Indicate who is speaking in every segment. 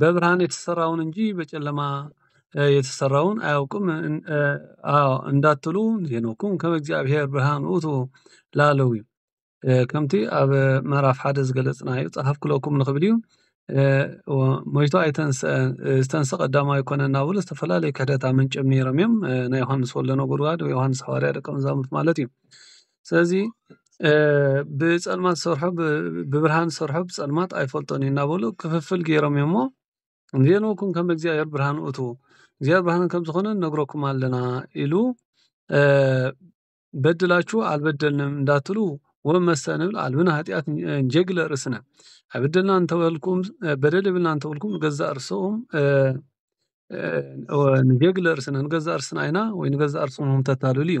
Speaker 1: በብርሃን የተሰራውን እንጂ በጨለማ የተሰራውን አያውቅም እንዳትሉ ዜኖኩም ከም እግዚኣብሔር ብርሃን ውእቱ ላለዊ ከምቲ ኣብ ምዕራፍ ሓደ ዝገለጽናዮ ጸሓፍኩለኩም ንኽብል እዩ ሞይቱ ኣይተንስአን ዝተንሰ ቀዳማ ኣይኮነ እናብሉ ዝተፈላለዩ ክሕደት ኣመንጭም ነይሮም እዮም ናይ ዮሃንስ ወልደ ነጎድጓድ ዮሃንስ ሓዋርያ ደቀ መዛሙርት ማለት እዩ ስለዚ ብጸልማት ዝሰርሖ ብብርሃን ዝሰርሖ ብጸልማት ኣይፈልጦን እዩ እናበሉ ክፍፍል ጌሮም እዮም እሞ ንቤንኩን ከመ እግዚኣብሔር ብርሃን ውእቱ እግዚኣብሔር ብርሃን ከም ዝኾነ ንነግረኩም ኣለና ኢሉ በድላችሁ ኣልበደልንም እንዳትሉ ወመሰ ንብል ኣልብነ ኃጢኣት እንጀግለ ርእስነ ኣይበደልና እንተ በልኩም በደል የብልናን እንተ በልኩም ንገዛእ ርእስኹም ንጌግለ ርእስነ ንገዛእ ርእስና ኢና ወይ ንገዛእ ርእስኹም ተታልሉ እዩ።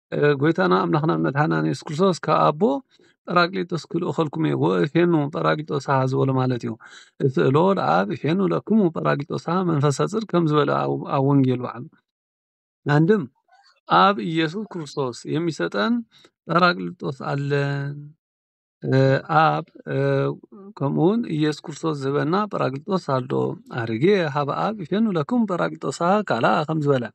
Speaker 1: ጎይታና ኣምላኽናን መድሓኒናን የሱስ ክርስቶስ ካብ ኣቦ ጰራቅሊጦስ ክልእኸልኩም እየ ወእፌኑ ጰራቅሊጦስ ሃ ዝበሎ ማለት እዩ። እቲ እሎ ለኣብ እፌኑ ለክሙ ጰራቅሊጦስ ሃ መንፈሰ ጽድቅ ከም ዝበለ ኣብ ወንጌል በዓሉ አንድም ኣብ ኢየሱስ ክርስቶስ የሚሰጠን ጰራቅሊጦስ ኣለን ኣብ ከምኡውን ኢየሱስ ክርስቶስ ዝህበና ጰራቅሊጦስ ኣሎ ኣርጌ ሃብ ኣብ እፌኑ ለክሙ ጰራቅሊጦስ ሃ ካልኣ ከም ዝበለ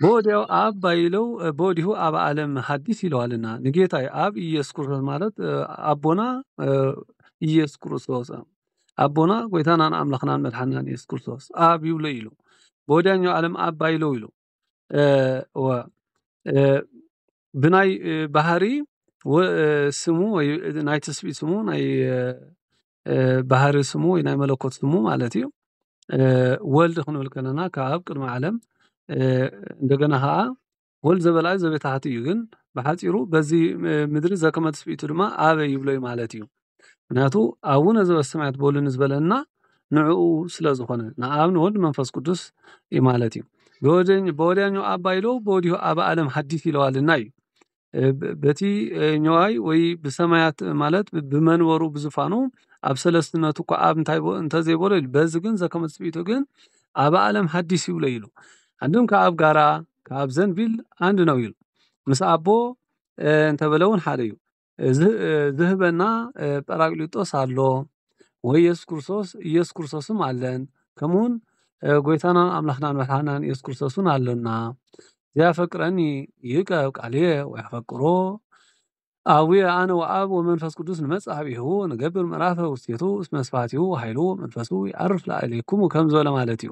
Speaker 1: ብወዲያው ኣብ ባይለው በወዲሁ ኣብ ዓለም ሀዲስ ይለዋልና ንጌታይ ኣብ ኢየሱስ ክርስቶስ ማለት ኣቦና ኢየሱስ ክርስቶስ ኣቦና ጎይታናን ኣምላኽናን መድሓናን ኢየሱስ ክርስቶስ ኣብ ይብሎ ኢሉ በወዲያኛው ዓለም ኣብ ባይለው ኢሉ ብናይ ባህሪ ስሙ ወይ ናይ ትስብእት ስሙ ናይ ባህሪ ስሙ ወይ ናይ መለኮት ስሙ ማለት እዩ ወልድ ክንብል ከለና ካብ ኣብ ቅድሚ ዓለም እንደገና ኸዓ ወልድ ዘበለ ኣዩ ዘቤት ኣሓቲ እዩ ግን ብሓጺሩ በዚ ምድሪ ዘከመ ትስብእቱ ድማ ኣበይ ይብሎ እዩ ማለት እዩ ምክንያቱ ኣቡነ ዘበሰማያት በሉ ንዝበለና ንዕኡ ስለ ዝኾነ ንኣብ ንወልድ መንፈስ ቅዱስ ማለት እዩ ብወዲያኛው ኣባ ኢሎ ብወዲሁ ኣብ ኣለም ሃዲስ ኢለዋልና እዩ። በቲ ኘዋይ ወይ ብሰማያት ማለት ብመንበሩ ብዝፋኑ ኣብ ሰለስትነቱ እኳ ኣብ እንታይ እንተዘይበሎ ኢሉ በዚ ግን ዘከመ ትጽቢቱ ግን ኣብ ኣለም ሃዲስ ይብሎ ኢሉ ኣንድም ከኣብ ጋራ ካብ ዘንቢል ኣንድ ነው ኢሉ ምስ ኣቦ እንተበለውን ሓደዩ ዝህበና ጰራቅሊጦስ ኣሎ። ወይ የሱስ ክርስቶስ ኢየሱስ ክርስቶስ እውን ኣለን ከምኡ እውን ጎይታና ኣምላኽናን መድሓኒናን የሱስ ክርስቶስ እውን ኣሎና ዘያፈቅረኒ ይእቀብ ቃልየ ወየፈቅሮ ኣቡየ ኣነ ወኣብ ወመንፈስ ቅዱስ ንመጽእ ኀቤሁ ንገብር ምዕራፈ ውስቴቱ እስመ ስብሐቲሁ ወኃይሉ መንፈሱ ይዐርፍ ላዕሌኩሙ ከም ዝበለ ማለት እዩ።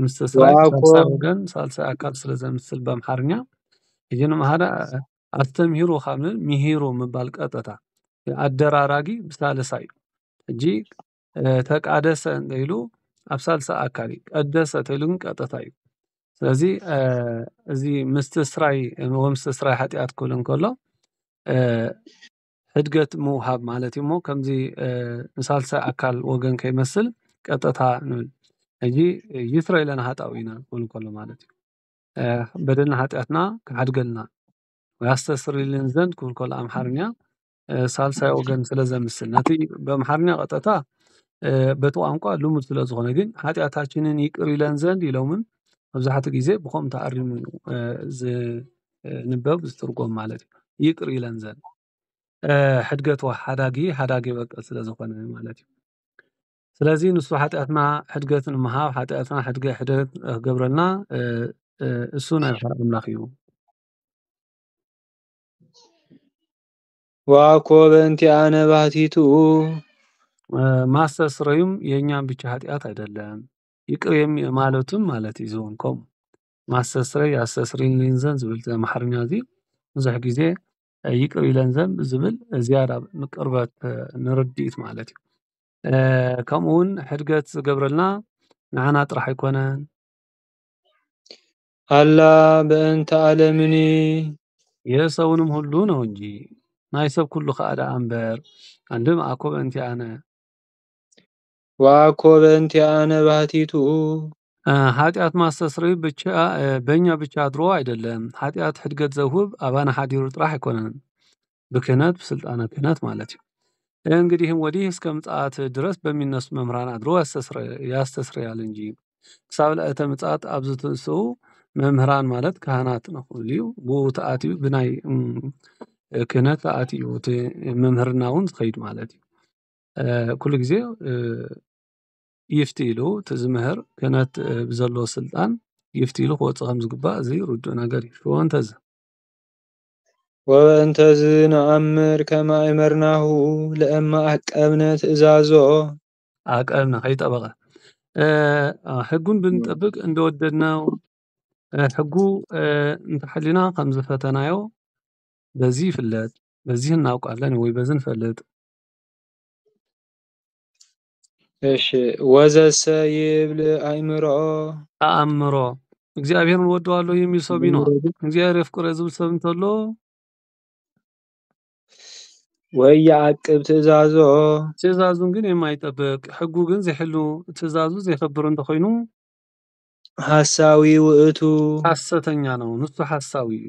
Speaker 1: ምስ ተስፋይ ሳልሳይ ወገን ሳልሳይ ኣካል ስለ ዘምስል ብኣምሓርኛ ሕጂ ንምሃረ ኣስተምሂሩ ካብ ንብል ምሂሩ ምባል ቀጥታ ኣደራራጊ ብሳልሳይ እዩ ሕጂ ተቃደሰ እንተኢሉ ኣብ ሳልሳይ ኣካል እዩ ቀደሰ ተኢሉ ግን ቀጥታ እዩ ስለዚ እዚ ምስትስራይ ወምስትስራይ ሓጢኣት ክብል እንከሎ ሕድገት ምውሃብ ማለት እዩሞ ከምዚ ንሣልሰ ኣካል ወገን ከይመስል ቀጠታ ንብል እይ ይትረ ኢለ ንሃጣው ኢና ወልንኮሎ ማለት እዩ በደና ሃጢኣትና ሓድገልና ወያስተስርልን ዘንድ ክብልኮሎ ኣምሓርኛ ሣልሳይ ወገን ስለ ዘምስል ነቲ ብኣምሓርኛ ቐጠታ በቲ ቛንቋ ሉሙድ ስለ ዝኾነ ግን ሓጢኣታችንን ይቅር ኢለን ዘንድ ኢሎምን ኣብዙኃቲ ጊዜ ብኾም ተኣሪሙ እዩ። ንበብ ዝትርጎም ማለት እዩ ይቅር ኢለን ዘን ሕድገት ሓዳጊ ሓዳጊ በቀል ስለ ዝኾነ ማለት እዩ ስለዚ ንሱ ሓጢኣትና ሕድገት ንምሃብ ሓጢኣትና ሕድገ ሕደት ክገብረልና እሱ ናይ ባሕሪ ኣምላኽ እዩ
Speaker 2: ዋኮ በእንቲኣነ ባህቲቱ
Speaker 1: ማስተስረዩም የእኛም ብቻ ሓጢኣት ኣይደለም ይቅር ማለቱም ማለት እዩ ዝወንኮም ማሰስረይ ኣሰስሪን ሜንዘን ዝብል ኣምሓርኛ እዚ ብዙሕ ግዜ ይቅር ኢለን ዘም ዝብል ዝያዳ ንቅርበት ንርድኢት ማለት እዩ። ከምኡ እውን ሕድገት ዝገብረልና ንዓና ጥራሕ ኣይኮነን።
Speaker 2: ኣላ በእንተ ኣለምኒ
Speaker 1: የሰውንም ሁሉ ነው እንጂ ናይ ሰብ ኩሉ ከኣ ደኣ እምበር ኣንድም ኣኮ በእንቲኣነ
Speaker 2: ዋኮ በእንቲኣነ ባህቲቱ።
Speaker 1: ኃጢኣት ማስተስረዩ ብቻ በኛ ብቻ ኣድሮ ኣይደለም ኃጢኣት ሕድገት ዘውህብ ኣባና ሓዲሩ ጥራሕ ኣይኮነን ብክህነት ብሥልጣነ ክህነት ማለት እዩ። እንግዲህም ወዲህ እስከ ምጽኣት ድረስ በሚነሱ መምህራን ኣድሮ ያስተስረያል እንጂ ክሳብ ለእተ ምጽኣት ኣብ ዝትንስኡ መምህራን ማለት ካህናት ንኹልዩ ብኡ ተኣትዩ ብናይ ክህነት ተኣትዩ እቲ ምምህርናውን ዝኸይድ ማለት እዩ። ኩሉ ግዜ ይፍትይ ኢሉ እቲ ዝምህር ክህነት ብዘለዎ ስልጣን ይፍትይ ኢሉ ክወጽእ ከም ዝግባእ እዚ ርዱእ ነገር እዩ። ወበእንተዝ።
Speaker 2: ወበእንተዝ ንኣምር ከመ ኣእመርናሁ ለእመ ኣቀብነ ትእዛዞ።
Speaker 1: ኣቀብነ ከይጠበቐ ሕጉን ብንጠብቅ እንደወደድናዮ ሕጉ እንተሓሊና ከም ዝፈተናዮ በዚ ይፍለጥ በዚ እናውቃለን ወይ በዚ ንፈልጥ
Speaker 2: እሺ ወዘሰ ይብል ኣእምሮ ኣእምሮ
Speaker 1: እግዚኣብሔርን ወደዋለሁ የሚል ሰው ቢኖር እግዚአብሔር የፍቅረ ዝብል ሰብ እንተሎ ወይ የዓቅብ ትእዛዞ ትእዛዙን ግን የማይጠብቅ ሕጉ ግን ዘይሕሉ ትእዛዙ ዘይከብር እንተኮይኑ
Speaker 2: ሐሳዊ ውእቱ ሐሰተኛ
Speaker 1: ነው ንሱ ሐሳዊ እዩ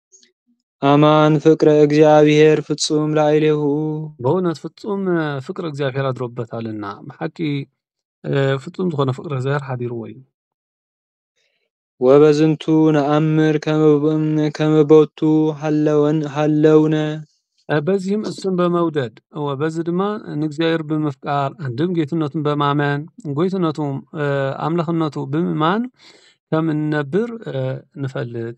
Speaker 1: ኣማን
Speaker 2: ፍቅረ እግዚኣብሔር ፍጹም ላዕሌሁ። በእውነት
Speaker 1: ፍጹም ፍቅሪ እግዚኣብሔር ኣድሮበታል እና ብሓቂ ፍጹም ዝኾነ ፍቅሪ እግዚኣብሔር ሓዲርዎ እዩ።
Speaker 2: ወበዝንቱ ነኣምር ከመ ቦቱ ሀለውነ።
Speaker 1: በዚህም እሱን በመውደድ በዚ ድማ ንእግዚኣብሔር ብምፍቃር አንድም ጌትነቱን በማመን ጎይትነቱ ኣምላኽነቱ ብምእማን ከም እንነብር ንፈልጥ።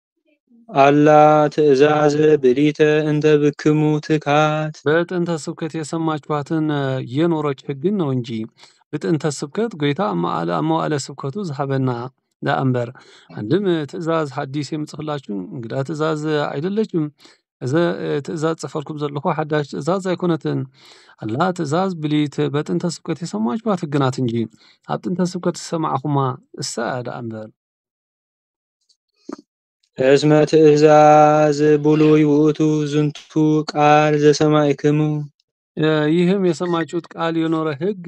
Speaker 2: ኣላ ትእዛዘ ብሊተ እንተ ብክሙ ትካት። በጥንተ ስብከት
Speaker 1: የሰማችኋትን የኖሮች ሕግን ነው እንጂ ብጥንተ ስብከት ጎይታ ኣብ መዋእለ ስብከቱ ዝሃበና ዳኣምበር ኣንድም ትእዛዝ ሓዲስ የምጽፍላችሁ እንግዳ ትእዛዝ ኣይደለችም እዘ ትእዛዝ ጽፈልኩም ዘለኹ ሓዳሽ ትእዛዝ ኣይኮነትን ኣላ ትእዛዝ ብሊት በጥንተ ስብከት የሰማችኋት ህግናት እንጂ ኣብ ጥንተ ስብከት ዝሰማዕኹማ እሳ እያ ደኣ እምበር
Speaker 2: እስመ ትእዛዝ ብሉይ ውእቱ ዝንቱ ቃል ዘሰማዕክሙ
Speaker 1: ይህም የሰማችሁት ቃል የኖረ ህግ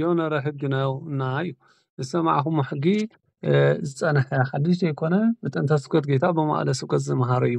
Speaker 1: የኖረ ህግ ነው እና እዩ ዝሰማዕኹም ሕጊ ዝጸንሐ ሓድሽ ዘይኮነ ብጥንተ ስብከት ጌታ ብመዋዕለ ስብከት ዝመሃረ እዩ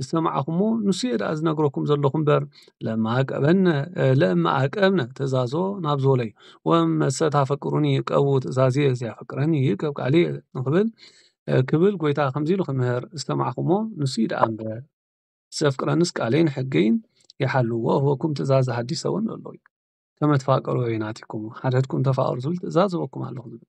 Speaker 1: ዝሰማዕኹሞ ንሱ እየ ደኣ ዝነግረኩም ዘለኹ እምበር ለማዕቀበነ ለማዕቀብነ ትእዛዞ ናብ ዝበሎ እዩ ወመሰ ታፈቅሩኒ ቀቡ ትእዛዝየ ዘየፍቅረኒ ይእቀብ ቃልየ ንኽብል ክብል ጐይታ ከምዚ ኢሉ ክምህር ዝሰማዕኹሞ ንሱ እዩ ደኣ እምበር ዘፍቅረንስ ቃለይን ሕገይን ይሓሉ ወእህበኩም ትእዛዘ ሓዲሰ እውን ኣሎ እዩ ከመ ትፋቀሩ ወይናቲክሙ ሓድሕድኩም ተፋቀሩ ዝብል ትእዛዝ እህበኩም ኣለኹ ዝብል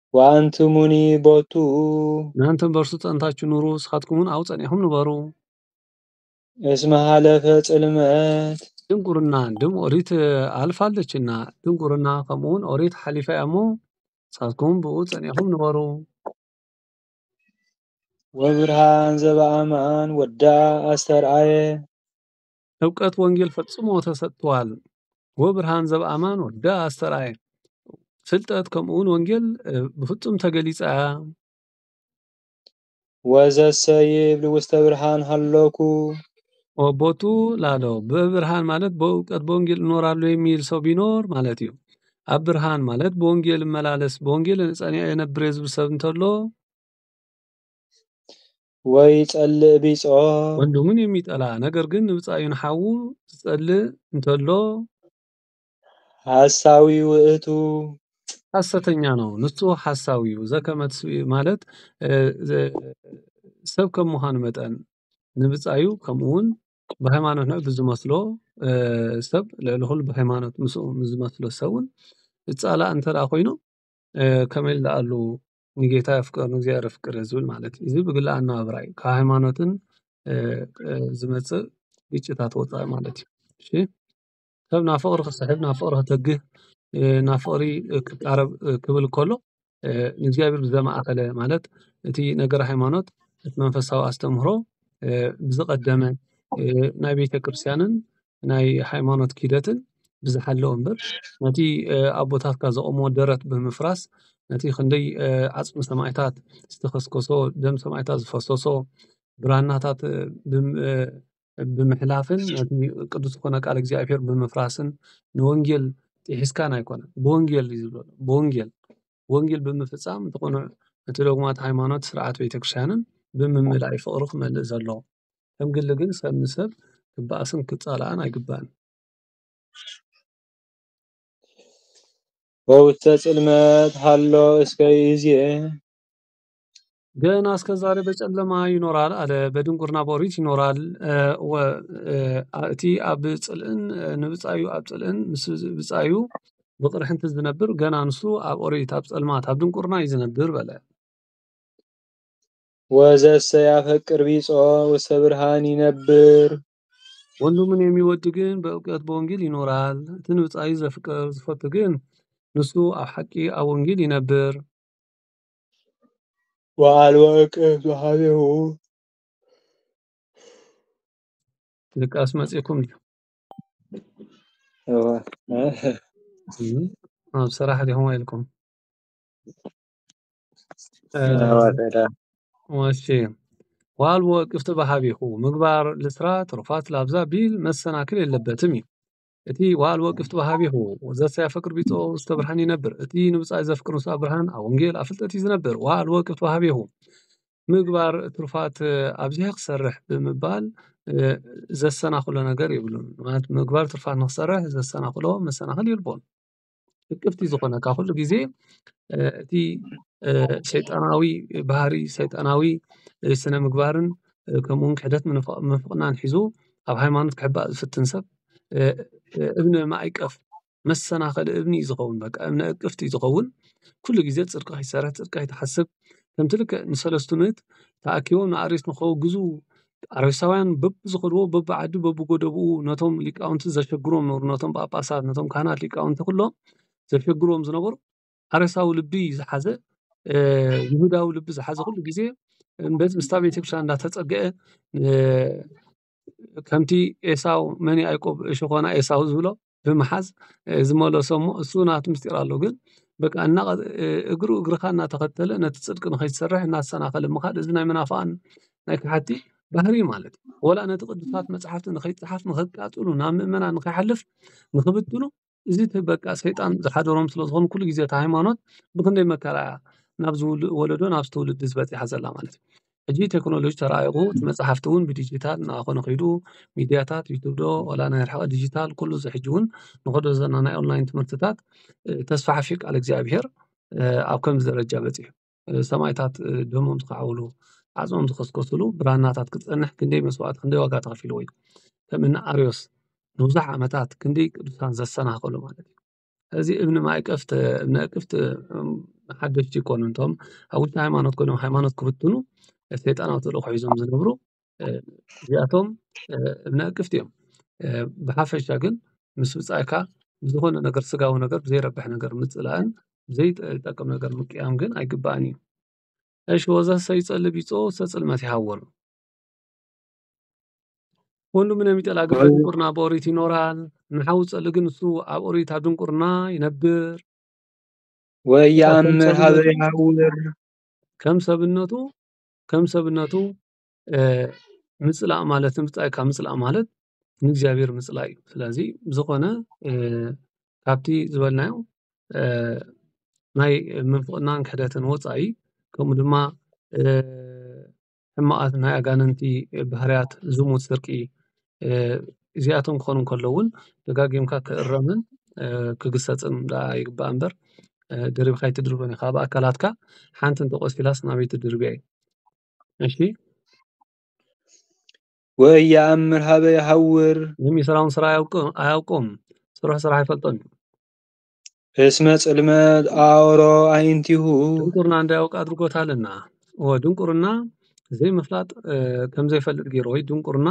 Speaker 2: ወኣንትሙኒ ቦቱ። እናንተም
Speaker 1: በእርሱ ጸንታችሁ ኑሩ፣ እስኻትኩምውን ኣብኡ ጸኒዕኹም ንበሩ።
Speaker 2: እስመ ሀለፈ ጽልመት። ድንቁርና
Speaker 1: ድም ኦሪት ኣልፋለችና፣ ድንቁርና ከምኡውን ኦሪት ሓሊፋ እያ እሞ፣ ንሳትኩም ብእኡ ጸኒዕኹም ንበሩ።
Speaker 2: ወብርሃን ዘበኣማን ወዳ ኣስተርኣየ።
Speaker 1: እብቀት ወንጌል ፈጽሞ ተሰጥተዋል ወብርሃን ዘብኣማን ወደ ኣስተርኣየ ፍልጠት ከምኡውን ወንጌል ብፍጹም ተገሊጸ
Speaker 2: ወዘሰ ይብል ውስተ ብርሃን ሃለኩ ወቦቱ
Speaker 1: ላሎ በብርሃን ማለት በእውቀት በወንጌል እኖራለሁ የሚል ሰው ቢኖር ማለት እዩ ኣብ ብርሃን ማለት በወንጌል እመላለስ በወንጌል ጸኒዐ የነብር ዝብል ሰብ እንተሎ
Speaker 2: ወይ ጸልእ ቢጾ። ወንድሙን
Speaker 1: የሚጠላ ነገር ግን ንብጻዩን ሓዉ ዝጸልእ እንተሎ።
Speaker 2: ሓሳዊ ውእቱ።
Speaker 1: ሓሰተኛ ነው ንሱ ሓሳዊዩ ዘከመትስኢ ማለት ሰብ ከም ምዃኑ መጠን ንብጻዩ ከምኡውን ብሃይማኖት ልዑል ብዝመስሎ ሰብ ልዕሊ ኹሉ ብሃይማኖት ምስኡ ምስዝመስሎ ሰብውን ዝጻላእ እንተደኣ ኮይኑ ከመይ ልኣሉ ንጌታ ኣፍቅር ንእግዚኣብሔር ኣፍቅር እየ ዝብል ማለት እዩ። እዚ ብግሊ ኣነባብራ እዩ። ካብ ሃይማኖትን ዝመጽእ ግጭታት ወፃኢ ማለት እዩ። እሺ ሰብ ናብ ፍቅሪ ክስሕብ ናብ ፍቅሪ ከተግህ ናብ ፍቅሪ ክቃረብ ክብል ከሎ ንእግዚኣብሔር ብዘማእከለ ማለት እቲ ነገር ሃይማኖት እቲ መንፈሳዊ ኣስተምህሮ ብዝቀደመ ናይ ቤተክርስትያንን ናይ ሃይማኖት ኪደትን ብዝሓለወ እምበር ነቲ ኣቦታትካ ዘቑምዎ ደረት ብምፍራስ ነቲ ክንደይ ዓፅሚ ሰማእታት ዝተኸስከሶ፣ ደም ሰማእታት ዝፈሰሶ፣ ብራናታት ብምሕላፍን ነቲ ቅዱስ ዝኾነ ቃል እግዚኣብሔር ብምፍራስን ንወንጌል ጥሒስካን ኣይኮነን። ብወንጌል እዩ ዝብሎ ብወንጌል። ወንጌል ብምፍጻም እቲ ቅኑዕ እቲ ዶግማት ሃይማኖት ስርዓት ቤተክርስትያንን ብምምላእ እዩ ፍቅሩ ክመልእ ዘለዎ። ከም ግሊ ግን ሰብ ንሰብ ክበኣስን ክጻላኣን ኣይግባእን።
Speaker 2: በውስተ ጽልመት ሃሎ እስከ ይእዜ።
Speaker 1: ገና እስከ ዛሬ በጨለማ ይኖራል ኣለ በድንቁርና በኦሪት ይኖራል እቲ ኣብ ፅልእን ንብፃዩ ኣብ ፅልእን ምስ ብፃዩ ብቕርሕንቲ ዝነብር ገና ንሱ ኣብ ኦሪት ኣብ ፀልማት ኣብ ድንቁርና እዩ ዝነብር በለ
Speaker 2: ወዘሰ ያፈቅር ቢጾ ውስተ ብርሃን ይነብር ወንድሙን
Speaker 1: የሚወድ ግን በእውቀት በወንጌል ይኖራል እቲ ንብፃዩ ዘፍቅር ዝፈቱ ግን ንሱ ኣብ ሓቂ ኣብ ወንጌል ይነብር
Speaker 2: በዓል ወርቂ ዝሓዘዎ
Speaker 1: ድቃስ መጺኡኩም ድዩ? እወ ኣብ ስራሕ ዲኹም ወይልኩም? እሺ ዋል ወቅፍቲ በሃቢኹ ምግባር ልስራ ትሩፋት ላብዛ ቢል መሰናክል የለበትም እዩ እቲ ወሃልቦ ግፍት ወሃቢሁ ወዘተ ያፈቅር ቢጾ ውስተ ብርሃን ይነብር እቲ ንብጻይ ዘፍቅር ውስተ ብርሃን ኣብ ወንጌል ኣብ ፍልጠት እዩ ዝነብር ወሃልቦ ግፍት ወሃቢሁ ምግባር ትሩፋት ኣብዚሐ ክሰርሕ ብምባል ዘሰናኽሎ ነገር የብሉን ማለት ምግባር ትሩፋት ንኽሰርሕ ዘሰናኽሎ መሰናኽል የልቦን። ልክፍቲ ዝኾነካ ኹሉ ጊዜ እቲ ሸይጣናዊ ባህሪ ሰይጣናዊ ስነ ምግባርን ከምኡውን ክሕደት ምንፍቕናን ኂዙ ኣብ ሃይማኖት ክሕባእ ዝፍትን ሰብ እብነ ማይቀፍ መሰናኸል እብኒ እዩ ዝኸውን በቃ እብነ እቅፍቲ እዩ ዝኸውን ኲሉ ጊዜ ጽድቂ ኺይሠርሕ ጽድቂ ኣይትሓስብ ከምቲ ልክዕ ንሠለስቱ ምእት ተኣኪቦም ንኣርዮስ ንኸወግዙ ኣረጋውያን በብዝኸድዎ በብዓዱ በብጎደቦኡ ነቶም ሊቃውንቲ ዘሸግርዎም ዝነበሩ ነቶም ጳጳሳት ነቶም ካህናት ሊቃውንቲ ኩሎም ዘሸግርዎም ዝነበሩ ሓረሳዊ ልቢ ዝሓዘ ይሁዳዊ ልቢ ዝሓዘ ኩሉ ግዜ ምስታ ቤተክርስትያን እንዳተጸግዐ ከምቲ ኤሳው መን ያእቆብ ሸኾና ኤሳው ዝብሎ ብምሓዝ ዝመለሶ እሞ እሱ ናቱ ምስጢር ኣለዎ ግን በቃ እና እግሩ እግርኻ እናተኸተለ ነቲ ፅድቂ ንኸይትሰርሕ እናተሰናኸለ ምኻድ እዚ ናይ መናፍቓን ናይ ከሓድቲ ባህሪ እዩ ማለት እዩ፡፡ ወላ ነቲ ቅዱሳት መፃሕፍቲ ንኸይፀሓፍ ንኸቃፅሉ ናብ ምእመናን ንኸይሓልፍ ንኽብትኑ እዚ እቲ በቃ ሰይጣን ዝሓደሮም ስለዝኾኑ ኩሉ ግዜ እታ ሃይማኖት ብኽንደይ መከራ እያ ናብ ዝውልድ ወለዶ ናብዚ ትውልዲ ዝበፂሓ ዘላ ማለት እዩ፡፡ ሕጂ ቴክኖሎጂ ተራቂቁ እቲ መጽሓፍቲ ዉን ብዲጂታል እናኮነ ከይዱ ሚድያታት ዩቱብ ዶ ዋላ ናይ ርሕቀት ዲጂታል ኩሉ እዚ ሕጂ ዉን ንከዶ ዘለና ናይ ኦንላይን ትምህርትታት ተስፋሕፊሑ ቃል እግዚኣብሄር ኣብ ከምዚ ደረጃ በጺሑ ሰማእታት ደሞም ዝከዓብሉ ዓጽሞም ዝከስከስሉ ብራናታት ክጸንሕ ክንደይ መስዋእቲ ክንደይ ዋጋ ተከፊልዎ እዩ ከም እኒ ኣርዮስ ንብዙሕ ዓመታት ክንደይ ቅዱሳን ዘሰናከሉ ማለት እዩ። እዚ እምኒ ማእቀፍት እምነቅፍት ሓደሽቲ ይኮኑ እቶም ኣብ ውሽጢ ሃይማኖት ኮይኖም ሃይማኖት ክብትኑ ሰይጣናዊ ተልእኮ ሒዞም ዝነብሩ እዚኣቶም እምነቅፍቲ እዮም። ብሓፈሻ ግን ምስ ብጻይካ ብዝኮነ ነገር ስጋዊ ነገር ብዘይረብሕ ነገር ምጽላእን ዘይጠቅም ነገር ምቅያም ግን ኣይግባእን እዩ። እሺ ወዘሰ ይጸሊ ቢጾ ወዘሰ ጽልመት ይሃወኑ። ወንዱ ምን የሚጠላው ግን በድንቁርና በኦሪት ይኖራል፣ ንሓዉ ዝጸሊ ግን እሱ ኣብ ኦሪት ኣብ ድንቁርና ይነብር። ወየአምር
Speaker 2: ኀበ የሐውር ከም ሰብነቱ
Speaker 1: ከም ሰብነቱ ምጽላእ ማለት ብጻይ ካብ ምጽላእ ማለት ንእግዚኣብሔር ምጽላይ እዩ። ስለዚ ብዝኾነ ካብቲ ዝበልናዮ ናይ ምንፍቅናን ክሕደትን ወጻኢ ከምኡ ድማ ሕማቃት ናይ ኣጋንንቲ ባህርያት ዝሙት ስርቂ እዚኣቶም ክኾኑ እንከለዉ ዉን ደጋጊምካ ክእረምን ክግሰጽን ደኣ ይግባእ እምበር ደሪብካ ኣይትድርቦን ኢኻ ኣብ ኣካላትካ ሓንቲ እንተ ቆሲላስ ናበይ ትድርብያ እዩ እሺ
Speaker 2: ወይ ይኣምር ሃበ ይሃውር። ሎሚ ስራውን ስራ
Speaker 1: ኣያውቅም ስሩሕ ስራሕ ኣይፈልጦን እዩ።
Speaker 2: እስመ ጽልመት አውሮ አዕይንቲሁ ድንቁርና እንታይ ያውቅ
Speaker 1: አድርጎታልና ድንቁርና ዘይምፍላጥ ከም ዘይፈልጥ ገይሩ ወይ ድንቁርና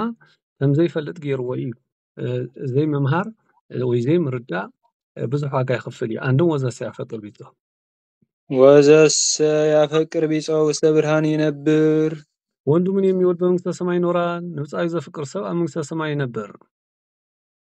Speaker 1: ከም ዘይፈልጥ ገይርዎ እዩ ዘይምምሃር ወይ ዘይምርዳእ ብዙሕ ዋጋ ይኽፍል እዩ አንድም ወዘሰ ያፈቅር ቢጾ ወዘሰ
Speaker 2: ያፈቅር ቢጾ ውስተ ብርሃን ይነብር ወንድሙን
Speaker 1: የሚወድ በመንግስተ ሰማይ ይኖራል ንብጻዩ ዘፍቅር ሰብ ኣብ መንግስተ ሰማይ ይነብር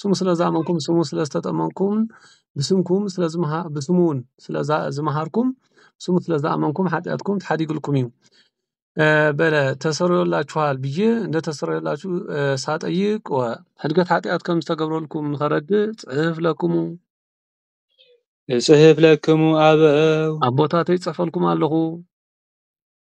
Speaker 1: ስሙ ስለ ዝኣመንኩም ስሙ ስለ ዝተጠመቅኩም ብስምኩም ስለ ብስሙ ዉን ስለ ዝመሃርኩም ስሙ ስለ ዝኣመንኩም ሓጥያትኩም ተሓዲጉልኩም እዩ በለ ተሰርዮላችኋል ብዬ እንደ ተሰርዮላችሁ ሳጠይቅ ወሕድገት ሓጢኣት ከም ዝተገብረልኩም ንኸረድእ ጽሕፍ ለክሙ
Speaker 2: እጽሕፍ ለክሙ
Speaker 1: ኣበው
Speaker 2: ኣቦታተይ
Speaker 1: እጽሕፈልኩም ኣለኹ።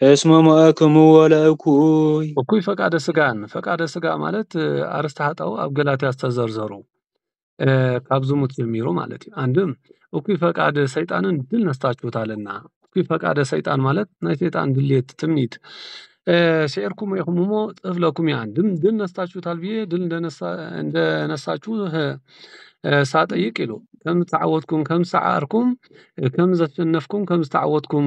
Speaker 2: እስመ ሞዐክምዎ ለእኩይ። እኩይ ፈቃደ
Speaker 1: ስጋን ፈቃደ ስጋ ማለት ኣርስተ ኃጣው ኣብ ገላትያ ዝተዘርዘሩ ካብ ዝሙት ጀሚሩ ማለት እዩ። አንድም እኩይ ፈቃድ ሰይጣንን ድል ነስታችሁታልና። እኩይ ፈቃደ ሰይጣን ማለት ናይ ሰይጣን ድሌት ትምኒት ስዒርኩም ኢኹም እሞ ጥፍ ለኩም እዩ። አንድም ድል ነስታችሁታል ብዬ ድል እንደነሳችሁ ሳጠይቅ ይሉ ከም ተዓወትኩም ከም ሰዓርኩም ከም ዘሸነፍኩም ከም ዝተዓወትኩም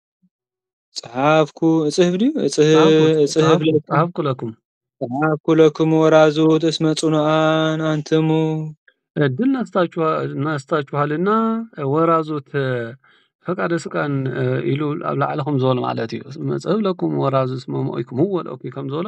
Speaker 2: ጸሓፍኩ እጽህፍ ድዩ ጸሓፍኩ እጽህፍ ጸሓፍኩ ለኩም
Speaker 1: ጸሓፍኩ ለኩም ጸሓፍኩ
Speaker 2: ለክሙ ወራዙት እስመ ጽኑዓን አንትሙ እድል
Speaker 1: ነስታችኋ- ነስታችኋልና ወራዙት ፈቃደ ስቃን እ፣ ኢሉ ኣብ ላዕሊ ከም ዝበሎ ማለት እዩ መጽህብ ለኩም ወራዙ እስመ ሞኢኩም ወልኦኩም ከም ዝበሎ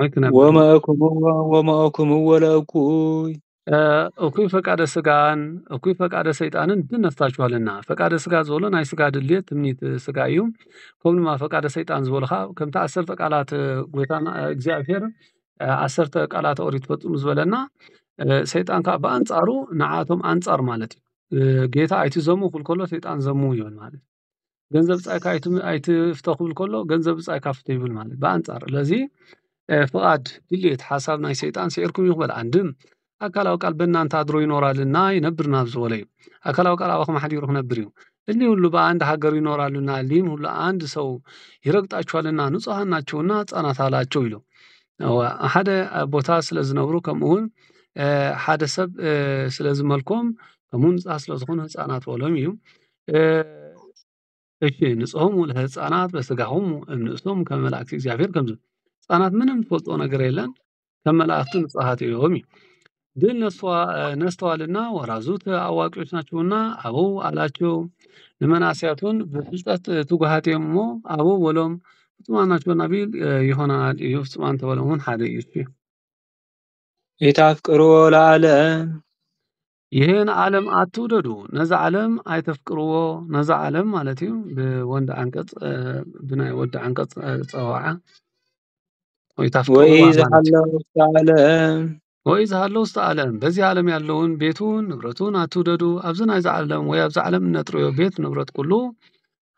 Speaker 1: ወይ ክነብር ወመ
Speaker 2: እኩብ ወመ እኩም ወለ እኩይ እ፣ እኩይ
Speaker 1: ፈቃደ ስጋን እኩይ ፈቃደ ሰይጣንን ብነፍሳችሁ ኣለና ፈቃደ ስጋ ዝበሎ ናይ ስጋ ድልየት ትምኒት ስጋ እዩ ከምኡ ድማ ፈቃደ ሰይጣን ዝበሎ ከዓ ከምቲ ዓሰርተ ቃላት እ፣ ጎይታና እ፣ እግዚኣብሔር እ፣ ዓሰርተ ቃላት ኦሪት ፈፅሙ ዝበለና እ፣ ሰይጣን ከዓ ብኣንፃሩ ንዓቶም ኣንፃር ማለት እዩ እ፣ ጌታ ኣይትዘሙ ክብል ከሎ ሰይጣን ዘሙ ይብል ማለት እዩ ገንዘብ ብጻይካ ኣይትፍቶ ክብል ከሎ ገንዘብ ብጻይካ ፍቶ ይብል ማለት እዩ። ብኣንጻር ስለዚ ፍቓድ ድሌት ሓሳብ ናይ ሰይጣን ስዒርኩም እዩ ክበል ኣንድም ኣካላዊ ቃል በእናንተ ኣድሮ ይኖራልና ይነብርና ዝበለ እዩ። ኣካላዊ ቃል ኣባኹም ሓዲሩ ክነብር እዩ። እሊ ሁሉ በአንድ ሀገር ይኖራሉና እሊህም ሁሉ አንድ ሰው ይረግጣቸዋልና ንጹሐን ናቸውና ህጻናት አላቸው ይሉ ሓደ ቦታ ስለ ዝነብሩ ከምኡውን ሓደ ሰብ ስለ ዝመልኮም ከምኡ ንጹሃ ስለ ዝኾኑ ህጻናት በሎም እዩ። እሺ ንጾም ለህፃናት በስጋሆሙ እምንእሶም ከመ መላእክት እግዚኣብሔር ከምዝ ህፃናት ምንም ትፈልጦ ነገር የለን ከም መላእክት ንጹሃት እዮም እዩ ግን ነስተዋልና ወራዙት አዋቂዎች ናቸውና አበው አላቸው ንመናስያቱን ብፍልጠት ትጉሃት እዮም እሞ አበው በሎም ፍጹማን ናቸውና ቢል ይሆናል እዩ ፍጹማን ተበለውን ሓደ እዩ ሊታፍቅርዎ
Speaker 2: ለዓለም
Speaker 1: ይህን ዓለም ኣትውደዱ ነዛ ዓለም ኣይተፍቅርዎ ነዛ ዓለም ማለት እዩ ብወንድ ዓንቀፅ ብናይ ወዲ ዓንቀፅ ፀዋዓ ወይ ታፍቅርዋ ወይ ዝሃለ ውስተ ዓለም በዚ ዓለም ያለውን ቤቱን ንብረቱን ኣትውደዱ ኣብዚ ናይዚ ዓለም ወይ ኣብዚ ዓለም እነጥርዮ ቤት ንብረት ኩሉ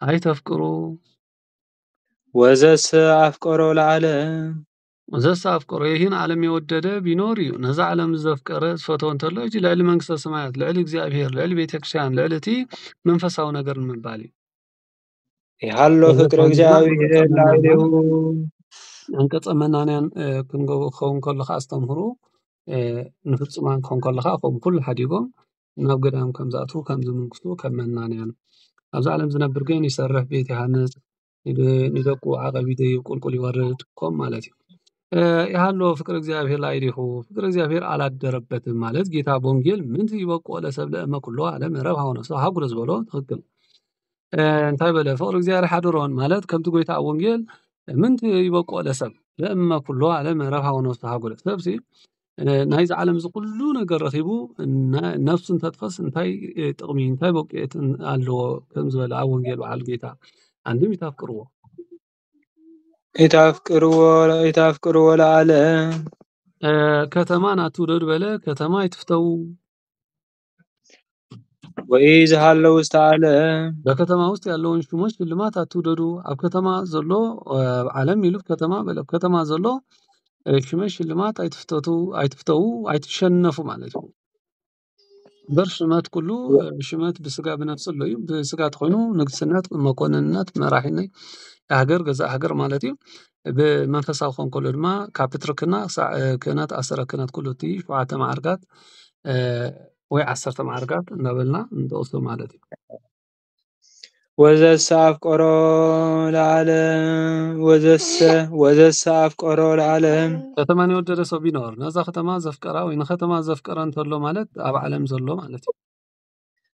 Speaker 1: ኣይተፍቅሩ
Speaker 2: ወዘሰ ኣፍቀሮ ለዓለም
Speaker 1: ዘሰኣፍቀሮ ይህን ዓለም የወደደ ቢኖር እዩ ነዛ ዓለም ዘፍቀረ ዝፈተወ እንተሎ እጅ ልዕሊ መንግስተ ሰማያት ልዕሊ እግዚኣብሄር ልዕሊ ቤተ ክርስትያን ልዕሊ እቲ መንፈሳዊ ነገር ንምባል እዩ
Speaker 2: ይሃሎ ፍቅሪ እግዚኣብሄር ላዕሌው
Speaker 1: ኣንቀጸ መናንያን ክንገቡ ክኸውን ከለካ ኣስተምህሩ ንፍጹማን ክኸውን ከለካ ከምኡ ኩሉ ሓዲጎም ናብ ገዳም ከም ዝኣትዉ ከም ዝምንግሱ ከም መናንያን ኣብዚ ዓለም ዝነብር ግን ይሰርሕ ቤት ይሃንጽ ንደቁ ዓቐብ ይደይብ ቁልቁል ይወርድ ከምኡ ማለት እዩ። ያሃሎ ፍቅር እግዚኣብሔር ላዕሌሁ ፍቅር እግዚኣብሔር ኣላደረበትም ማለት ጌታ በወንጌል ምንት ይበቁ ለሰብ ለእመ ኩሎ ዓለም ረብ ሃውነሶ ሃጉረ ዝበሎ ትክክል እንታይ በለ ፍቅር እግዚኣብሔር ሓድሮን ማለት ከምቲ ጎይታ ኣብ ወንጌል ምንት ይበቁ ለሰብ ለእመ ኩሎ ዓለም ረብ ሃውነሶ ሃጉረ ሰብሲ ናይዚ ዓለም እዚ ኩሉ ነገር ረኪቡ ነብሱ እንተጥፈእስ እንታይ ጥቅሚ እንታይ በቂዒት ኣለዎ ከም ዝበለ ኣብ ወንጌል በዓል ጌታ ኣንድም ይታፍቅርዎ ይታፍቅርዎ
Speaker 2: ይታፍቅርዎ ለኣለ
Speaker 1: ከተማን ኣትውደዱ በለ ከተማ ይትፍተው
Speaker 2: በከተማ ውስጥ ያለውን
Speaker 1: ሽሞች ሽልማት አትውደዱ ኣብ ከተማ ዘሎ ዓለም ይሉፍ ከተማ በለ ከተማ ዘሎ ሽመሽ ሽልማት ኣይትፍተቱ ኣይትፍተው ኣይትሸነፉ ማለት እዩ። በር ሽመት ኩሉ ሽመት ብስጋ ብነፍስ ኣሎ እዩ ብስጋ ተኾይኑ ንግስነት መኮንንነት መራሒነይ የሃገር ገዛ ሃገር ማለት እዩ። ብመንፈሳዊ ክኸውን ከሎ ድማ ካብ ፕትርክና ክሳዕ ክህነት ኣሰረ ክህነት ኩሉ እቲ ሸውዓተ መዓርጋት ወይ ዓሰርተ መዓርጋት እናበልና ንጠቕሶ ማለት እዩ። ወዘሰ
Speaker 2: ኣፍቀሮ ለዓለም ወዘሰ ወዘሰ ኣፍቀሮ ለዓለም ከተማ የወደደ
Speaker 1: ሰው ቢኖር ነዛ ከተማ ዘፍቀራ ወይ ንከተማ ዘፍቀረ እንተሎ ማለት ኣብ ዓለም ዘሎ ማለት እዩ።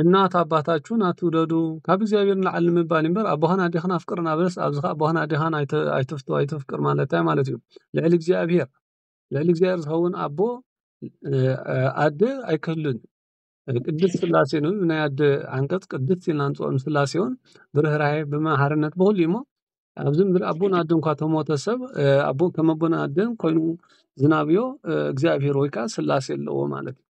Speaker 1: እናት ኣባታችሁን ኣትውደዱ ካብ እግዚኣብሔር ንላዕሊ ንምባል እምበር ኣቦኻን ኣዴኻን ኣፍቅር እናበለስ ኣብዚ ከዓ ኣቦኻን ኣዴኻን ኣይተፍቱ ኣይተፍቅር ማለት እንታይ ማለት እዩ? ልዕሊ እግዚኣብሔር ልዕሊ እግዚኣብሔር ዝኸውን ኣቦ ኣደ ኣይክህሉን ቅድስት ስላሴ ነው ናይ ኣደ ዓንቀጽ ቅድስት ኢልና ንፅኦም ስላሴ እውን ብርህራሄ ብመሓርነት ብኹሉ እሞ ኣብዚ ምድሪ ኣቦን ኣደ እንኳ ተሞተ ሰብ ኣቦ ከም ኣቦን ኣደን ኮይኑ ዝናብዮ እግዚኣብሔር ወይ ከዓ ስላሴ ኣለዎ ማለት እዩ።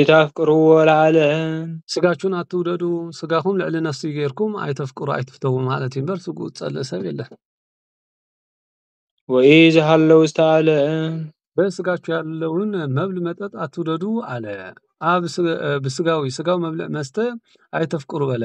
Speaker 2: ኢታፍቅርዎ ለዓለም። ስጋቹን
Speaker 1: ኣትውደዱ ስጋኩም ልዕሊ ነፍስይ ገርኩም ኣይተፍቅሩ ኣይትፍተዉ ማለት እዩ እምበር ስግኡ ዝጸልእ ሰብ የለን። ወኢ
Speaker 2: ዝሃለው ዝተኣለ። በስጋቹ
Speaker 1: ያለውን መብል መጠጥ ኣትውደዱ ኣለ። ኣብ ብስጋዊ ስጋዊ መብልዕ መስተ ኣይተፍቅሩ በለ።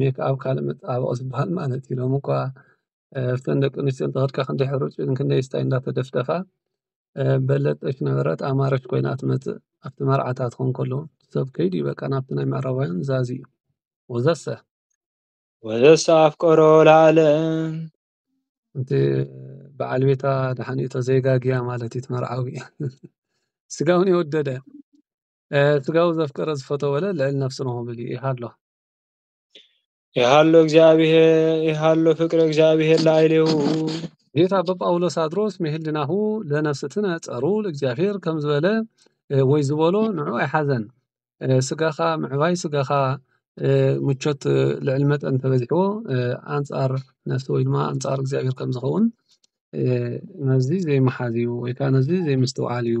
Speaker 1: ሜክኣብ ካልእ መጸባበቒ ዝበሃል ማለት እዩ ሎሚ እኳ ኣብተን ደቂ ኣንስትዮ እንተኸድካ ክንደይ ሕሩጭ ክንደይ ስታይ እንዳተደፍደፋ በለጸች ነበረት ኣማረች ኮይና ትመጽእ ኣብቲ መርዓታት ክኾን ከሎ ሰብ ከይዱ እዩ በቃ ናብቲ ናይ ምዕራባውያን ዛዚ እዩ ወዘሰ
Speaker 2: ወዘሰ ኣፍቀሮ ለዓለም
Speaker 1: እቲ በዓል ቤታ ድሓን እዩ ተዘይጋግያ ማለት እዩ ትመርዓዊ ስጋውን የወደደ ስጋዊ ዘፍቀረ ዝፈተወለ ልዕል ነፍሲ ንሆብል እዩ ይሃሎ ይሃሎ እግዚኣብሔር ይሃሎ ፍቅረ እግዚኣብሔር ለአይሌሁ ጌታ በጳውሎስ ኣድሮስ ምህልናሁ ለነፍስትነ ጸሩ ለእግዚኣብሔር ከም ዝበለ ወይ ዝበሎ ንዑ ኣይሓዘን ስጋኻ ምዕባይ ስጋኻ ምቾት ልዕል መጠን ተበዚሕዎ ኣንጻር ነፍሲ ወይ ድማ ኣንጻር እግዚኣብሔር ከም ዝኸውን ነዚ ዘይመሓዝ እዩ ወይ ከዓ ነዚ ዘይምስትውዓል እዩ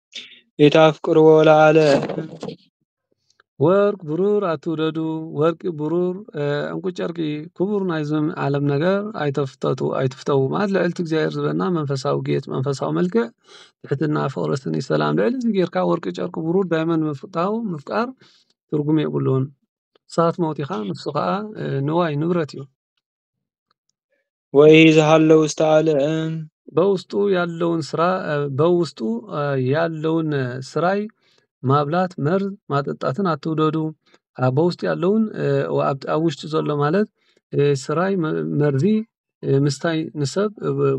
Speaker 2: ኢታፍቅርዎ ለዓለም
Speaker 1: ወርቅ ብሩር ኣትውደዱ ወርቂ ብሩር ዕንቁ ጨርቂ ክቡር ናይዝም ዓለም ነገር ኣይተፍተቱ ኣይትፍተው ማለት ልዕልቲ እግዚኣብሔር ዝበና መንፈሳዊ ጌት መንፈሳዊ መልክዕ ትሕትና ፍቕረስኒ ሰላም ልዕሊ እዚ ጌርካ ወርቂ ጨርቂ ብሩር ዳይመን ምፍታው ምፍቃር ትርጉም የብሉን እሳት ሞት ኢኻ ንሱ ኸዓ ንዋይ ንብረት እዩ። ወይ ዝሃለው ዝተኣልዕም በውስጡ ያለውን ስራ በውስጡ ያለውን ስራይ ማብላት መርዝ ማጠጣትን ኣትውደዱ በውስጡ ያለውን ኣብ ውሽጡ ዘሎ ማለት ስራይ መርዚ ምስታይ ንሰብ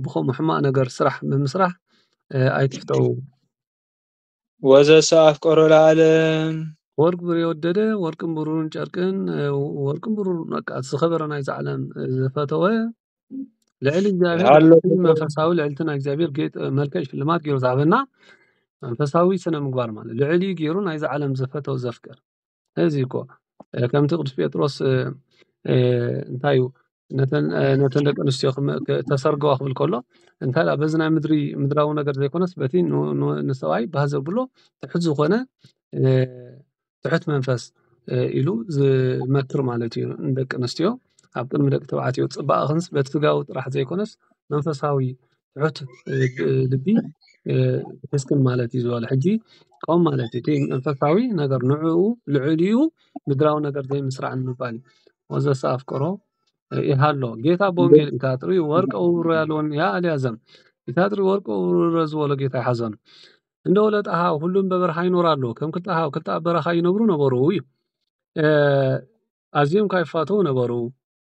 Speaker 1: ብኸምኡ ሕማቅ ነገር ስራሕ ብምስራሕ ኣይትፍተው።
Speaker 2: ወዘሰ ኣፍቀሮ ለዓለም። ወርቅ ብር
Speaker 1: የወደደ ወርቅን ብሩርን ጨርቅን ወርቅን ብሩርን በቃ እቲ ዝኸበረ ናይዛ ዓለም ዝፈተወ ልዕሊ እግዚኣብሔር ሃሎ እቲ ፍቅር መንፈሳዊ ልዕልቲ ናይ እግዚኣብሔር ጌጥ መልክዕ ሽልማት ገይሩ ዝሃበና መንፈሳዊ ስነ ምግባር ማለት ልዕሊ ገይሩ ናይዛ ዓለም ዝፈተው ዘፍቅር እዚ እኮ ከምቲ ቅዱስ ጴጥሮስ እንታይ እዩ ነተን ደቂ ኣንስትዮ ተሰርገዋ ክብል ከሎ እንታይ ደኣ በዚ ናይ ምድሪ ምድራዊ ነገር ዘይኮነስ በቲ ንሰብኣይ ባህ ዘብሎ ትሑት ዝኾነ ትሑት መንፈስ ኢሉ ዝመክር ማለት እዩ ንደቂ ኣንስትዮ ኣብ ቅድሚ ደቂ ተባዕትዮ ፅባቐክንስ በቲ ስጋዊ ጥራሕ ዘይኮነስ መንፈሳዊ ትሑት ልቢ ሒዝክን ማለት እዩ ዝበሎ ሕጂ ቆም ማለት እዩ እቲ መንፈሳዊ ነገር ንዕኡ ልዕሊኡ ምድራዊ ነገር ዘይምስራዕ ምባል እዩ ወዘሰ ኣፍቅሮ ይሃሎ ጌታ ብወንጌል እንተ ኣጥሪ ወርቀ ውርውሮ ያለውን ያ ኣልያዘም እንተ ኣጥሪ ወርቀ ውርውሮ ዝበሎ ጌታ ኣይሓዞን እንደ ወለት ኣሃው ሁሉም በበረኻ ይኖር ኣሎ ከም ክልተ ኣሃው ክልተ ኣብ በረኻ ይነብሩ ነበሩ እዩ ኣዝዮም ካይፋተው ነበሩ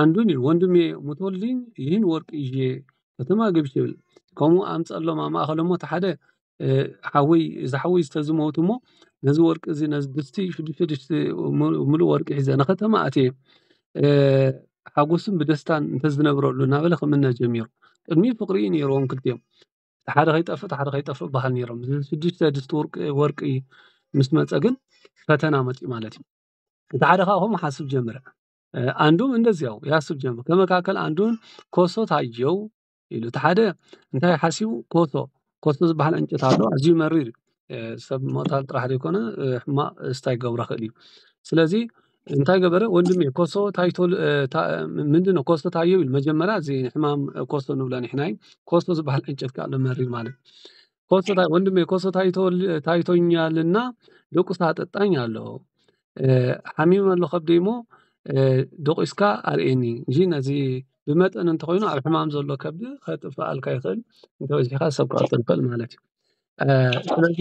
Speaker 1: ኣንዱን ኢሉ ወንድሜ ሙቶልኝ ይህን ወርቅ ይዤ ከተማ ገብቼ ይብል ከምኡ ኣምጸሎም ኣብ ማእከሎም እሞ እቲ ሓደ ሓወይ እዚ ሓወይ ተዚ ሞይቱ እሞ ነዚ ወርቂ እዚ ነዚ ድስቲ ሽዱሽተ ድስቲ ምሉእ ወርቂ ሒዘ ንከተማ ኣትየ ሓጎስን ብደስታን እንተዝነብረሉ እናበለ ክምነ ጀሚሩ ቅድሚ ፍቅሪ እዩ ነይርዎም ክልቲኦም እቲ ሓደ ከይጠፍእ እቲ ሓደ ከይጠፍእ ይበሃሃሉ ነይሮም እዚ ሽዱሽተ ድስቲ ወርቂ ምስ መጸ ግን ፈተና መጺኡ ማለት እዩ። እቲ ሓደ ካዓ ኾም ሓስብ ጀመረ ኣንዱም እንደዚያው ያስብ ጀመር ከመካከል ኣንዱን ኮሶ ታየው ኢሉ እቲ ሓደ እንታይ ሓሲቡ ኮሶ ኮሶ ዝበሃል ዕንጨት ኣሎ ኣዝዩ መሪር እዩ ሰብ ምቕታል ጥራሕ ዘይኮነ ሕማቕ ስታይ ክገብሮ ይኽእል እዩ ስለዚ እንታይ ገበረ ወንድሚ ኮሶ ታይቶ ምንድነው ኮሶ ታየው ኢሉ መጀመርያ እዚ ሕማም ኮሶ ንብሎ ንሕና እዩ ኮሶ ዝበሃል ዕንጨት ካዓ ኣሎ መሪር ማለት እዩ ወንድሜ ኮሶ ታይቶኛልና ደቁሳ ኣጠጣኝ ኣለዎ ሓሚመ ኣሎ ከብደይ እሞ ደቂስካ ኣርእየኒ እንጂ ነዚ ብመጠን እንተኮይኑ ኣብ ሕማም ዘሎ ከብዲ ከጥፈኣልካ ይክእል እንተበዚሕካ ሰብ ክቀትል ይክእል ማለት እዩ ስለዚ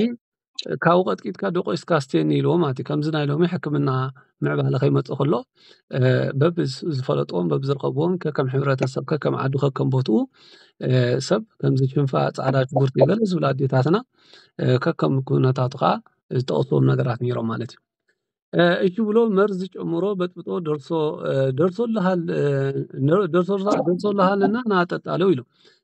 Speaker 1: ካብኡ ቀጥቂጥካ ደቂስካ ኣስትየኒ ኢልዎ ማለት እዩ ከምዚ ናይ ሎሚ ሕክምና ምዕባለ ከይመፀ ከሎ በብዝፈለጥዎም በብዝረኸብዎም ከከም ሕብረተሰብ ከከም ዓዱ ከከም ቦትኡ ሰብ ከምዚ ሽንፋ ጻዕዳ ሽጉርቲ ገለ ዝብላ ኣዴታትና ከከም ኩነታቱ ከኣ ዝጠቅስዎም ነገራት ኔሮም ማለት እዩ እሺ ብሎ መርዚ ጨምሮ በጥብጦ ደርሶ ደርሶልሃል ደርሶልሃልና ና ጠጣ ኢሎም።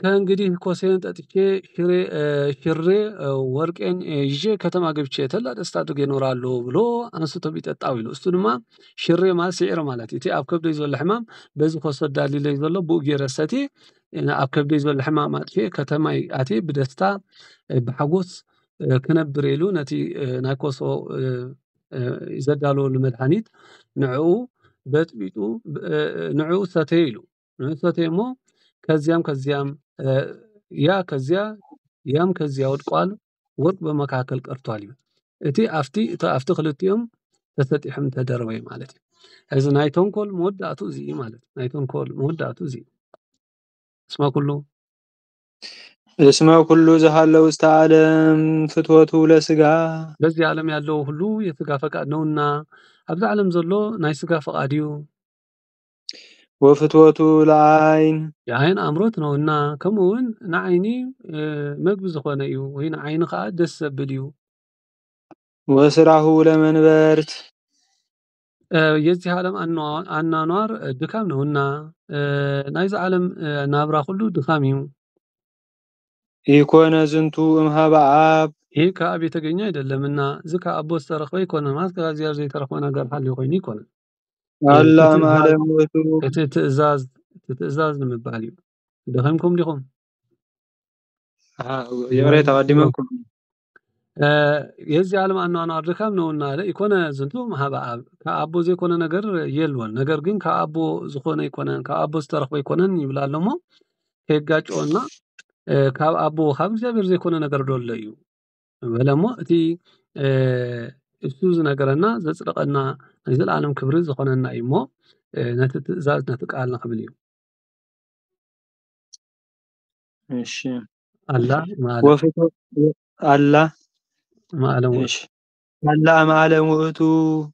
Speaker 1: ከእንግዲህ ኮሴን ጠጥቼ ሽሬ ሽሬ ወርቄን ይዤ ከተማ ገብቼ ተላ ደስታ ኣድርጌ እኖራለሁ ብሎ ኣንስቶ ቢጠጣ ኢሉ እሱ ድማ ሽሬ ማለት ስዒር ማለት እዩ እቲ ኣብ ከብደይ ዘሎ ሕማም በዚ ኮስ ኣዳሊለይ ዘሎ ብኡ ገይረ ሰትየ ኣብ ከብደይ ዘሎ ሕማም ኣጥፊኤ ከተማይ ኣትየ ብደስታ ብሓጎስ ክነብር ኢሉ ነቲ ናይ ኮሶ ዘዳለወሉ መድሃኒት ንዕኡ በጽቢጡ ንዕኡ ሰተየ ኢሉ። ንእሰትዮ እሞ ከዚያም ከዚያም ያ ከዚያ ያም ከዚያ ወድቋል ወርቅ ብመካከል ቀርቷል እዩ እቲ ኣፍቲ እቲ ኣፍቲ ኽልቲኦም ተሰጢሖም ተደረበይ ማለት እዩ እዚ ናይ ተንኮል መወዳእቱ እዚ እዩ ማለት እዩ ናይ ተንኮል መወዳእቱ እዚ እዩ እስመ ኩሉ
Speaker 2: እስመ ኩሉ ዝሃለው ውስተ ዓለም ፍትወቱ ለስጋ በዚህ ዓለም
Speaker 1: ያለው ሁሉ የስጋ ፈቃድ ነውና ኣብዚ ዓለም ዘሎ ናይ ስጋ ፈቃድ እዩ ወፍትወቱ
Speaker 2: ለዓይን። የዓይን ኣምሮት
Speaker 1: ነውና ከምኡ ውን ንዓይኒ መግቢ ዝኾነ እዩ ወይ ንዓይኒ ከኣ ደስ ዘብል እዩ።
Speaker 2: ወስራሁ ለመንበርት።
Speaker 1: የዚህ ዓለም ኣኗኗር ድካም ነውና ናይዚ ዓለም ናብራ ኩሉ ድካም እዩ። ኢኮነ
Speaker 2: ዝንቱ እምኀበ ኣብ። ይህ ከኣብ የተገኘ
Speaker 1: ኣይደለምና። ዝከ ኣቦ ዝተረክበ ኣይኮነን ማለት ከእግዚኣብሔር ዘይተረክበ ነገር ሃልዩ ኮይኑ ኣይኮነን። ኣላ
Speaker 2: ማለም ወቱ እቲ ትእዛዝ
Speaker 1: እቲ ትእዛዝ ንምባል እዩ ደኺምኩም ዲኹም
Speaker 2: የረ ተቀዲመኩም
Speaker 1: የዚ ዓለም ኣኗኗር ድካም ነውና ኣለ ይኮነ ዝንቱ ምሃበ ኣብ ካብ ኣቦ ዘይኮነ ነገር የልወን ነገር ግን ካብ ኣቦ ዝኾነ ይኮነን ካብ ኣቦ ዝተረኽበ ይኮነን ይብላ ኣሎሞ ከየጋጭኦና ካብ ኣቦ ካብ እግዚኣብሔር ዘይኮነ ነገር ዶሎ እዩ በለ እሞ እቲ እሱ ዝነገረና ዘጽደቐና ናይ ዘለኣለም ክብሪ ዝኾነና እዩ እሞ ነቲ ትእዛዝ ነቲ ቃል ንኽብል እዩ እሺ ኣላ ወፍቶ
Speaker 2: ኣላ
Speaker 1: ማእለም ወእቱ
Speaker 2: ኣላ ማእለም ወእቱ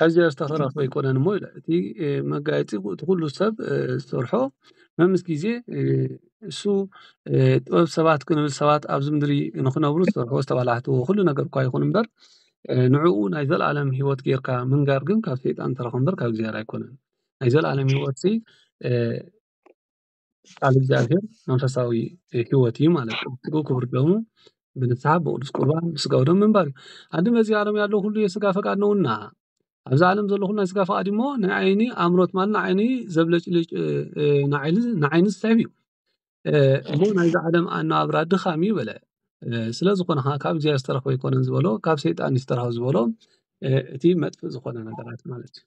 Speaker 1: ሕዚ ዝተረፎ ኣይኮነን እሞ ኢለ እቲ መጋየፂ እቲ ኩሉ ሰብ ዝሰርሖ መምስ ግዜ እሱ ጥበብ ሰባት ክንብል ሰባት ኣብዚ ምድሪ ንኽነብሩ ዝሰርሑ ዝተባላሕትዎ ኩሉ ነገር እኳ ይኹን እምበር ንዕኡ ናይ ዘለኣለም ሂወት ጌርካ ምንጋር ግን ካብ ሰይጣን ዝተረኸ እምበር ካብ እግዚኣብሔር ኣይኮነን ናይ ዘለኣለም ሂወት ቃል እግዚኣብሔር መንፈሳዊ ሕይወት እዩ ማለት ነው። ስግኡ ክቡር ደሙ ብንስሓ ብቅዱስ ቁርባን ብስጋው ደሙ ምንባር እዩ። ኣዲ በዚ ዓለም ያለው ሁሉ የስጋ ፈቃድ ነውና ኣብዚ ዓለም ዘሎ ኩሉ ናይ ስጋ ፈቃድ እሞ ንዓይኒ ኣምሮት ማለት ንዓይኒ ዘብለጭልጭ ንዓይኒ ዝስሕብ እዩ እሞ ናይዚ ዓለም ኣነባብራ ድኻም እዩ በለ። ስለ ዝኾነ ከዓ ካብ እግዚኣብሔር ዝተረኽበ ኣይኮነን ዝበሎ ካብ ሰይጣን ዝተረኽበ ዝበሎ እቲ መጥፍእ ዝኾነ ነገራት ማለት እዩ።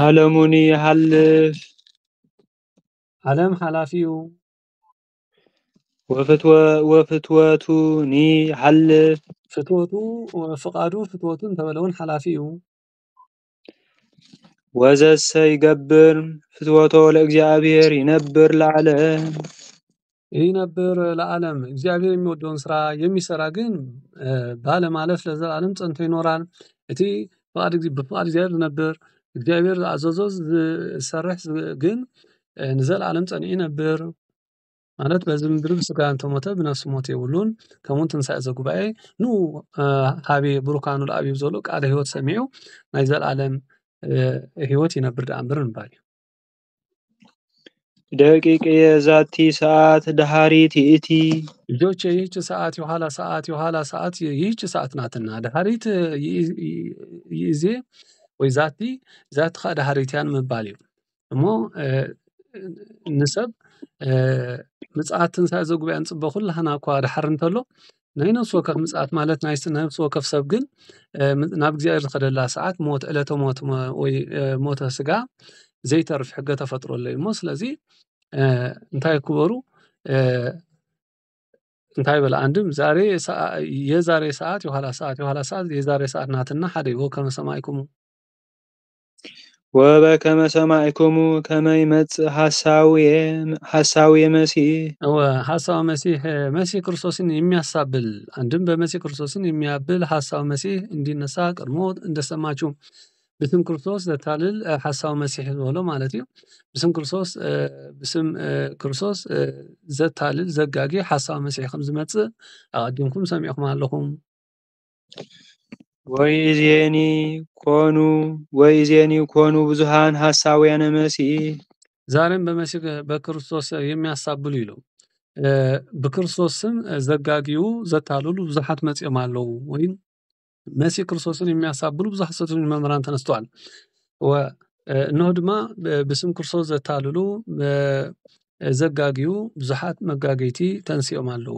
Speaker 2: ዓለሙን ይሓልፍ
Speaker 1: ዓለም ሓላፊኡ
Speaker 2: ወፍትወቱን ይሓልፍ ፍትወቱ
Speaker 1: ፍቃዱ ፍትወቱ እንተበለ እውን ሓላፊ እዩ።
Speaker 2: ወዘሰ ይገብር ፍትወቶ ለእግዚኣብሔር ይነብር ለዓለም።
Speaker 1: ይነብር ለዓለም እግዚኣብሔር የሚወደውን ስራ የሚሰራ ግን ባለማለፍ ለዘላለም ጸንቶ ይኖራል። እቲ ፍቃድ ብፍቃድ እግዚኣብሔር ዝነብር እግዚኣብሔር ዝኣዘዞ ዝሰርሕ ግን ንዘለዓለም ጸኒዑ ይነብር። ማለት በዚ ምድሪ ብስጋ እንተሞተ ብነፍሱ ሞት የብሉን ከምኡ ትንሳኤ ዘጉባኤ ን ሃቤ ብሩካኑ ለኣብዩ ዘሎ ቃል ሕይወት ሰሚዑ ናይ ዘለዓለም ሕይወት ይነብር ደኣምበር ምባል እዩ።
Speaker 2: ደቂቅየ ዛቲ ሰዓት ደሃሪት ይእቲ። ልጆቼ ይህች
Speaker 1: ሰዓት የኋላ ሰዓት የኋላ ሰዓት ይህች ሰዓት ናትና ደሃሪት ይእዜ ወይ ዛቲ ዛቲ ኸኣ ደሃሪት እያ ንምባል እዩ። እሞ ንሰብ ምጽኣት ትንሳኤ ዘጉባኤ ንጽበ ኩላህና እኳ ደሓር እንተሎ ናይ ነፍሲ ወከፍ ምጽኣት ማለት ናይ ነፍሲ ወከፍ ሰብ ግን ናብ እግዚኣብሔር ዝኸደላ ሰዓት ሞት ዕለተ ሞት ወይ ሞተ ስጋ ዘይተርፍ ሕገ ተፈጥሮ ኣሎ እዩ እሞ ስለዚ እንታይ ክበሩ እንታይ በለ ኣንድም ዛሬ የዛሬ ሰዓት የኋላ ሰዓት የኋላ ሰዓት የዛሬ ሰዓት ናትና ሓደ እዩ ወከመ ሰማይኩሙ
Speaker 2: ወበከመ ሰማዕኩሙ ከመ ይመጽእ ሐሳዌ መሲሕ እወ ሐሳዊ
Speaker 1: መሲህ መሲህ ክርስቶስን የሚያሳብል አንድም በመሲህ ክርስቶስን የሚያብል ሐሳዊ መሲህ እንዲነሳ ቀድሞ እንደሰማችሁ ብስም ክርስቶስ ዘታልል ሐሳዊ መሲህ ዝበሎ ማለት እዩ። ብስም ክርስቶስ ብስም ክርስቶስ ዘታልል ዘጋጊ ሐሳዊ መሲህ ከም ዝመጽእ ኣቀዲምኩም ሰሚዕኩም ኣለኹም።
Speaker 2: ወኢዜኒ ኮኑ ወኢዜኒ ኮኑ ብዙሃን ሐሳውያነ
Speaker 1: መሲህ
Speaker 2: ዛሬም
Speaker 1: በመሲህ በክርስቶስ
Speaker 2: የሚያሳብሉ
Speaker 1: ይሉ ብክርስቶስ ስም ዘጋግዩ ዘታልሉ ብዙሓት መጽኦም ኣለዉ ወይም መሲህ ክርስቶስን የሚያሳብሉ ብዙ ሐሰተኞች መምህራን ተነስተዋል እነሆ ድማ ብስም ክርስቶስ ዘታልሉ ዘጋግዩ ብዙሓት መጋገይቲ ተንስኦም ኣለዉ።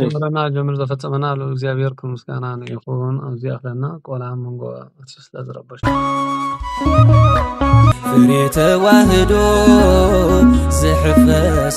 Speaker 1: ጀምረና ጀምር ዘፈጸመና ልዑል እግዚኣብሔር ክብሪ ምስጋና ይኹን። ኣብዚ ኣኽለና ቆልዓ መንጎ ኣቲ ስለ ዝረበሽ
Speaker 3: ፍሬ ተዋህዶ ዝሕፈስ